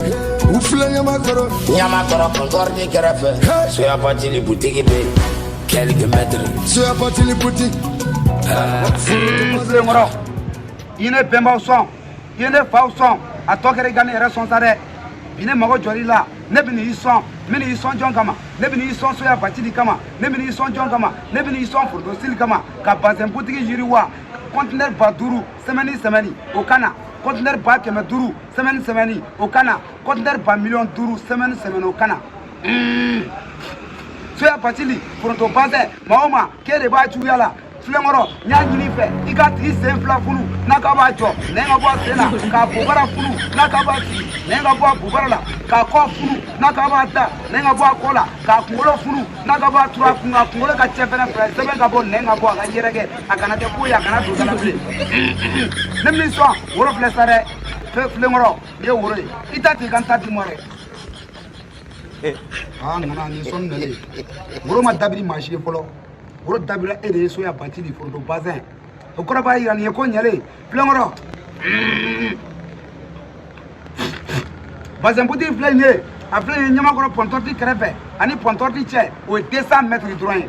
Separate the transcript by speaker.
Speaker 1: u filɛ ɲamakɔrɔ ɲamakɔrɔ pɔntɔti kɛrɛfɛ soya batili butigi bɛ kɛlike mɛtiri soya
Speaker 2: batili butigi foronto
Speaker 3: filenkɔrɔ i ne bɛnbaw sɔn i ne faw sɔn a tɔ kɛra i ka ne yɛrɛ sɔn sa dɛ bi ne mago jɔr'i la ne bɛ n'i sɔn n bɛ n'i sɔn jɔn kama ne bɛ n'i sɔn soya batili kama ne bɛ n'i sɔn jɔn kama ne bɛ n'i sɔn foronto sitili kama ka bazɛn butigi yiriwa kɔntinɛri ba duuru sɛmɛni sɛmɛni o ka na kɔntinɛri ba kɛmɛ duuru sɛmɛni sɛmɛni o ka na kɔntinɛri ba miliyɔn duuru sɛmɛni sɛmɛni o ka na soya batili foronto bazɛn maa o maa k'e de b'a juguya la filenkɔrɔ n y'a ɲini i fɛ i k'a tigi sen fila funu n'a k'a b'a jɔ nɛn ka bɔ a sen na k'a bobara funu n'a k'a b'a sigi nɛn ka bɔ a bobara la k'a kɔ funu n'a k'a b'a da nɛn ka bɔ a kɔ la k'a kunkolo funu n'a k'a b'a turu a kun kan kunkolo ka cɛ fɛrɛn fila sɛmɛ ka bɔ nɛn ka bɔ a ka yɛrɛkɛ a kana kɛ ko ye a kana don da la bilen ne bɛ n'i sɔn woro filɛ sa dɛ filenkɔrɔ nin ye woro ye i ta t'i ka n ta di n ma dɛ aa nana nin sɔnni nalen woro ma dabiri maa si ye fɔlɔ woro dabira e de ye soya batili foronto bazɛn o kɔrɔ b'a yira nin ye ko ɲɛlen filenkɔrɔ bazɛn butigi filɛ nin ye a filɛ nin ye ɲamakɔrɔ pɔntɔti kɛrɛfɛ ani pɔntɔti cɛ o ye 200 mɛtiri dɔrɔn ye